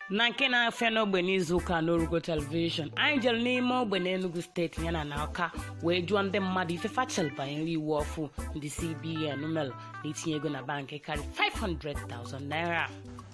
na nke na-afịa n'ogbe n'izuụka n'orugo telivishọn anyị jelu n'ime ogbe n'Enugu steeti yana na Ọka wee jụọ ndị mmadụ ife fa chelu banyere iwu ọfụụ ndị CBN melu na itinye ego na bankị karị 500,000 naira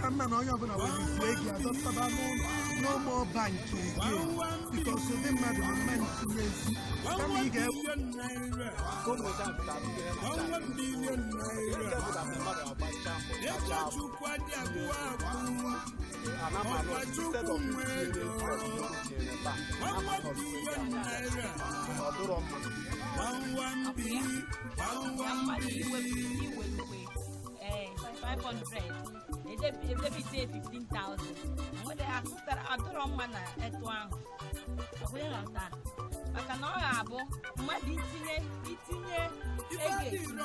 ka mma na onye ọbụna nwere isi ego adọtaba n'ụlọ no more banking again because ndị mmadụ ama etinyezi kama ị ga-ewu one million naira. ee 500 edebe edebe ise 15000 nwere azụtara adịrọ mma na etu ahụ ọbụla ghọta maka na ọ ga-abụ mmadụ itinye itinye ego etinye